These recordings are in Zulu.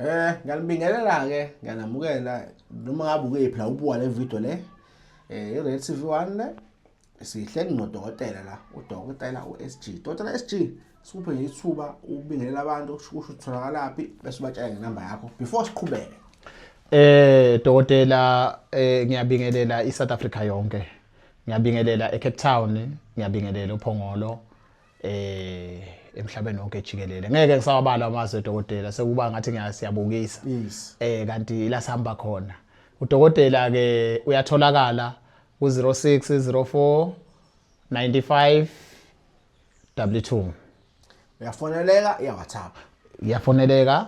Eh ngiyanibingelela ke ngiyanamukela noma ngabe ukephi la ubuka le video le eh iRed TV 1 le sihleli nodokotela la udokotela uSG dokotela SG sikuphe nje ithuba ubingelela abantu kusho ukuthi utholakalaphi bese ubatshela ngenamba yakho before siqhubeke eh dokotela eh ngiyabingelela iSouth Africa yonke ngiyabingelela eCape Town ngiyabingelela uPhongolo eh emhlabeni wonke jikelele ngeke ngisawabala amazwe dokotela sekuba ngathi ngiyasiyabukisa yes. eh kanti la sihamba khona udokotela ke uyatholakala ku 0604 95 W2 uyafoneleka iya WhatsApp uyafoneleka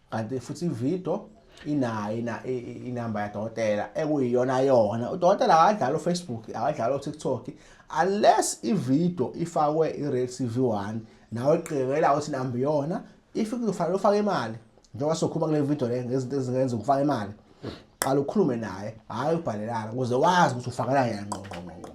kanti futhi ivido inayo inamba yadokotela ekuyiyona yona udokotela akadlali ufacebook akadlali utiktok unless ividio ifakwe i-real tv one nawe qiqela ukuthi inamba iyona if kuzofanele ufake imali njengoba sokhuluma kule vidio le ngezinto ezingenza ukufaka imali qala ukhulume naye hhayi ubhalelana ukuze wazi ukuthi ufakelana yena ngqongqongqongqo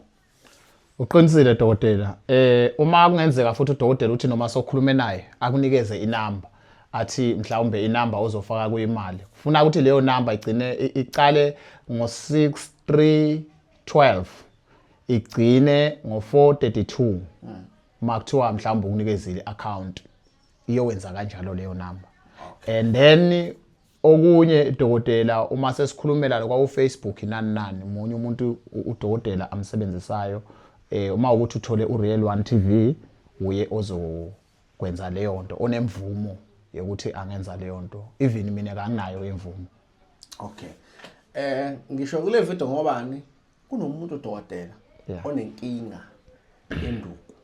Uqinisile dokotela. Eh uma kungenzeka futhi udokotela uthi noma sokhulume naye akunikeze inamba athi mhlawumbe inamba ozofaka kuyimali. Kufuna ukuthi leyo namba igcine iqale ngo6312 igcine ngo432. Makuthiwa mhlawumbe ukunikezile account iyowenza kanjalo leyo namba. And then okunye dokotela uma sesikhulumela lokwa uFacebook nani nani munye umuntu udokotela amsebenzisayo eh uma ukuthi uthole uReal 1 TV uye ozokwenza leyo nto onemvumo yokuthi angenza leyo nto even mina kanginayo imvumo okay eh ngisho kule video ngobani kunomuntu dokotela onenkinga enduku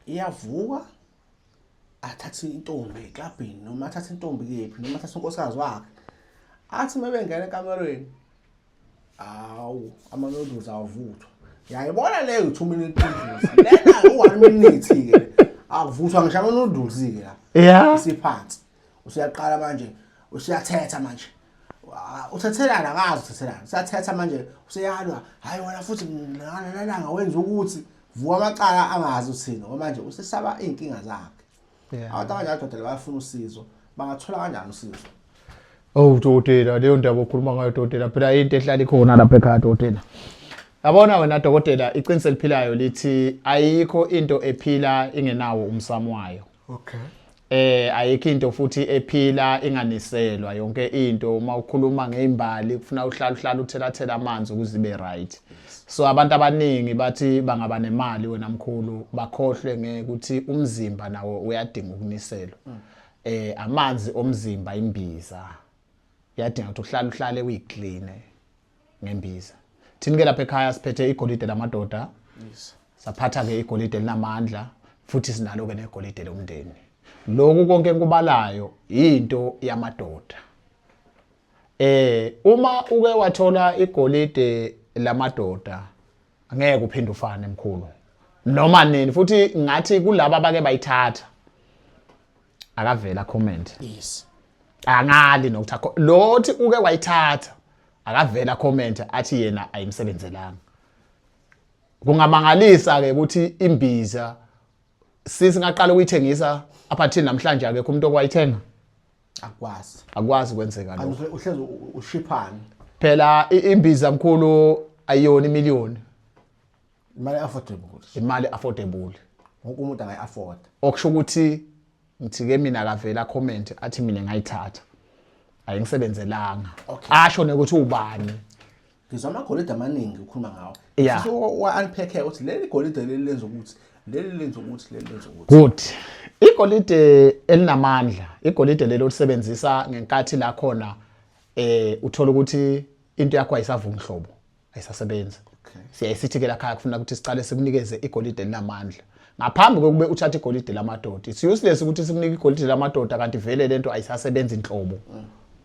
iyavuka athathe intombi eklabhini noma athathe intombi kephi noma athathe unkosikazi wakhe athi uma bengena ekamerweni hawu ama-noodles awavuthwa yayibona leyo two minute noodles lena u-one minute-ke akuvuthwa ngisho ama-noodles-ke la isiphansi usuyaqala manje usuyathetha manje uthethelana akazi uthethelana usuyathetha manje useyalwa hhayi wona futhi nananga wenza ukuthi vuka amacala angazi uthini ngoba manje usesaba iy'nkinga zakhe abantu abanye adoda bayafuna usizo bangathola kanjani usizo Oh dokotela leyo ndaba okhuluma ngayo dokotela phela into ehlala ikhona lapha ekhaya dokotela Yabona wena dokotela iqiniso eliphilayo lithi ayikho into ephila ingenawo umsamo wayo okay eh ayikho into futhi ephila inganiselwa yonke into uma ukhuluma ngeimbali kufuna uhlala uhlala uthelathela amanzi ukuze ibe right so abantu abaningi bathi bangaba nemali wena mkhulu bakhohlwe ngekuthi umzimba nawo uyadinga ukuniselwa eh amanzi omzimba imbiza yadinga ukuthi uhlala uhlale uyiclean ngembiza thini ke lapha ekhaya siphethe igolide lamadoda yes saphatha ke igolide linamandla futhi sinalo ke negolide lomndeni lokhu konke enkubalayo into yamadoda eh uma uke wathola igolide lamadoda ngeke uphinde ufane emkhulu noma nini futhi ngathi kulabo abake bayithatha akavela comment yes angali nokuthi akho lothi uke wayithatha akavela comment athi yena ayimsebenzelanga kungamangalisa ke ukuthi imbiza sisi ngaqala ukuyithengisa aphathini namhlanje akekho umuntu okwayithenga akwazi akwazi kwenzeka lokho uhlezi ushiphana phela imbiza mkhulu ayiyona imiliyoni imali affordable ukuthi imali affordable wonke umuntu angayi afford okusho ukuthi ngithi ke mina akavela comment athi mina ngayithatha ayingisebenzelanga Okay. asho nokuthi ubani ngizwa amagolide amaningi ukhuluma ngawo Yeah. so wa-unpack ukuthi leli golide leli lenza ukuthi leli lenza ukuthi leli lenza ukuthi good igolide elinamandla igolide lelo lisebenzisa ngenkathi la khona eh uthola ukuthi into yakho ayisavumi hlobo ayisasebenzi okay. siyaye sithi ke lakhaya kufuna ukuthi siqale sikunikeze igolide elinamandla ngaphambi kokube uthathe igolide lamadoda it's useless ukuthi sikunike igolide lamadoda kanti vele lento ayisasebenzi inhlobo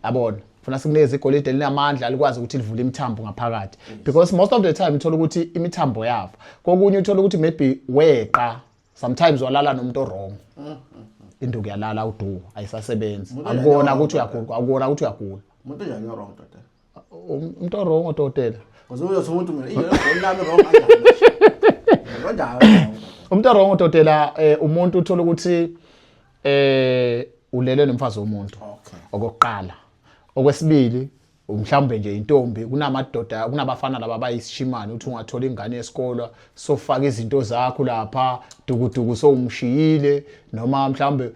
yabona funa sikunikeze igolide linamandla likwazi ukuthi livule imithambo ngaphakathi because most of the time uthola ukuthi imithambo yafa kokunye uthola ukuthi maybe weqa sometimes walala nomuntu wrong induku yalala uduku ayisasebenzi akubona ukuthi uyagula akubona ukuthi uyagula umuntu njani wrong doda umuntu orong odokotela uzothi umuntu mina ingelo lami wrong kanjani umuntu orong odokotela eh, umuntu uthola ukuthi eh ulele nomfazi womuntu okokuqala okwesibili mhlawumbe nje intombi kunamadoda kunabafana laba bayisishimane uthi ungathola ingane yesikolo sofaka izinto zakho lapha dukuduku sowumshiyile noma mhlawumbe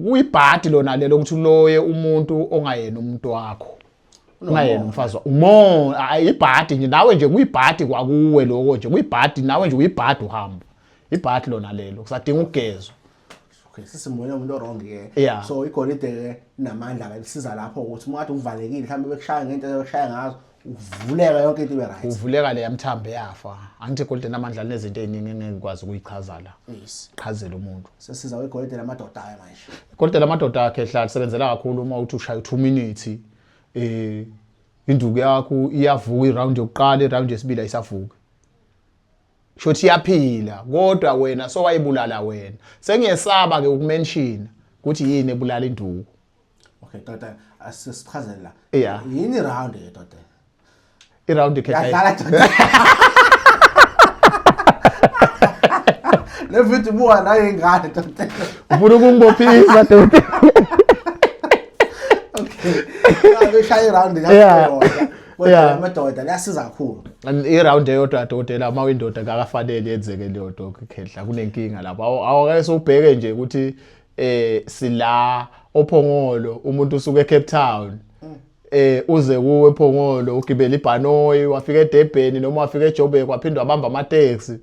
kuyibhadi lona lelo ukuthi uloye umuntu ongayena umuntu wakho ungayena umfazi umo ayibhadi nje nawe nje kuyibhadi kwakuwe lokho nje kuyibhadi nawe nje uyibhadi uhamba ibhadi lona lelo kusadinga ukugezwa okay sisimoya umuntu wrong ke yeah. so igolide ke namandla ke lisiza lapho ukuthi uma kade uvalekile mhlawumbe bekushaya ngento bekushaya ngazo ukuvuleka yonke into ibe right uvuleka le yamthambo eyafa angithi golden amandla linezinto eziningi engeke ngikwazi ukuyichaza la yes chazela umuntu sesiza we golden amadoda ayo manje golden amadoda akhe ehlala sebenzela kakhulu uma uthi ushaya 2 minutes eh induku yakho iyavuka iround yokuqala iround yesibili ayisavuki shothi iyaphila kodwa wena so wayibulala wena sengiyesaba ke ukumention ukuthi yini ebulala induku okay doda asichazele la yeah yini iround ke doda iround ke yadlala doda le video buwa nayo ingane doda ufuna ukungibophisa doda okay ngishaya iround yakho kodwa amadoda liyasiza kakhulu iround eyodwa adokotela uma uyindoda kakafanele yenzeke leyo dokhehla kunenkinga lapho awake sewubheke nje ukuthi eh sila ophongolo umuntu usuke eCape Town eh uze kuwe ephongolo ugibela ibhanoyi wafika eDebheni noma wafika eJobek waphindwa bamba ama taxi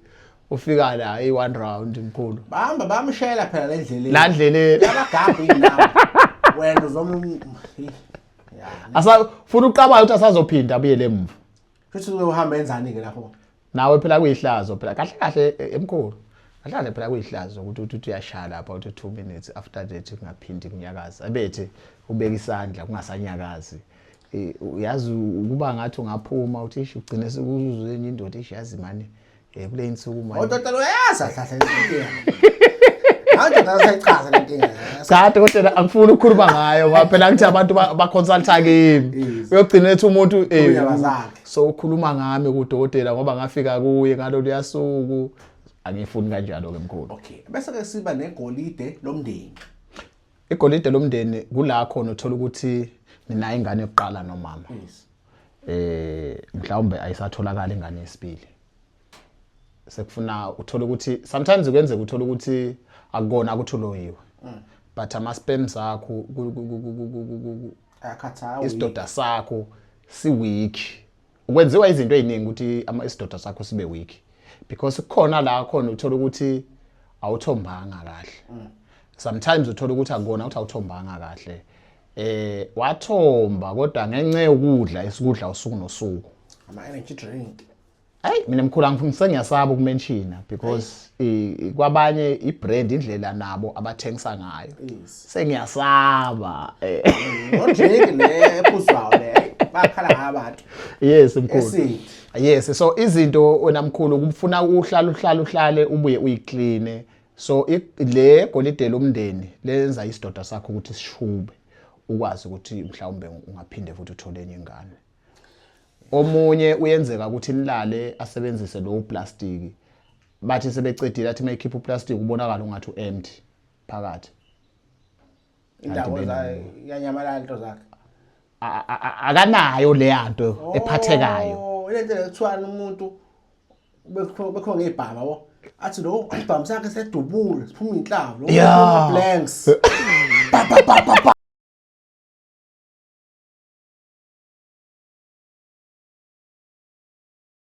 ufika la i one round mkhulu bahamba bamshela phela le ndleleni la ndleleni abagabhi indawo wena uzom asa funa uqabala ukuthi asazophinda abuyele emuva Futhi uke uhamba enzani-ke lapho? Nawe phela kuyihlazo phela kahle kahle eh, emkhulu. Kahle kahle phela kuyihlazo ukuthi uthi uthi uyashaya lapha uthi 2 minutes after that kungaphindi kunyakaza. Abethi ubeka isandla kungasanyakazi. Eh, Uyazi ukuba ngathi ungaphuma uthi ish ugcine sekuzuzwe enye indoda ish yazi mani Eh kule insuku manje. Odokotela uyazi ahlahla inkinga. Manje ngasayichaza le nkinga. Cha dokotela angifuni ukukhuluma ngayo ngoba phela ngithi abantu ba consulta kimi. Uyogcina ethi umuntu eh so ukhuluma ngami ku dokotela ngoba ngafika kuye ngalo liyasuku. Angifuni kanjalo ke mkhulu. Okay. Bese ke siba negolide lomndeni. Igolide lomndeni kula khona uthola ukuthi nina ingane yokuqala nomama. Yes. eh mhlawumbe ayisatholakala ingane yesibili sekufuna uthole ukuthi sometimes kuyenzeka uthole ukuthi akukona akuthuloyiwe mm. but ama sperms akho akhathawa isidoda sakho si weak ukwenziwa izinto eziningi ukuthi ama isidoda sakho sibe weak because kukhona la khona uthola ukuthi awuthombanga kahle mm. sometimes uthola ukuthi akukona ukuthi awuthombanga kahle eh wathomba kodwa ngenxa yokudla isikudla usuku nosuku ama energy drink Hey mina mkhulu angifungise ngiyasaba ukumenshina because kwabanye ibrand indlela nabo abathengisa ngayo sengiyasaba eh drink le ephuzwayo le bakhala ngabantu yes mkhulu yes so izinto wena mkhulu ukufuna uhlala uhlala uhlale ubuye uyiclean so le golide lomndeni lenza isidoda sakho ukuthi sishube ukwazi ukuthi mhlawumbe ungaphinde futhi uthole enye ingane omunye uyenzeka ukuthi nilale asebenzise lowo plastiki bathi sebecedile athi mayikhipha uplastic ubonakala ungathi uempty phakathi indawo yanyamalala into zakhe akanayo leya nto oh, ephathekayo lento lekuthiwani umuntu bekhona ngey'bhama bo athi lo isibhamu sakhe sedubule siphuma iy'nhlavu lo blanks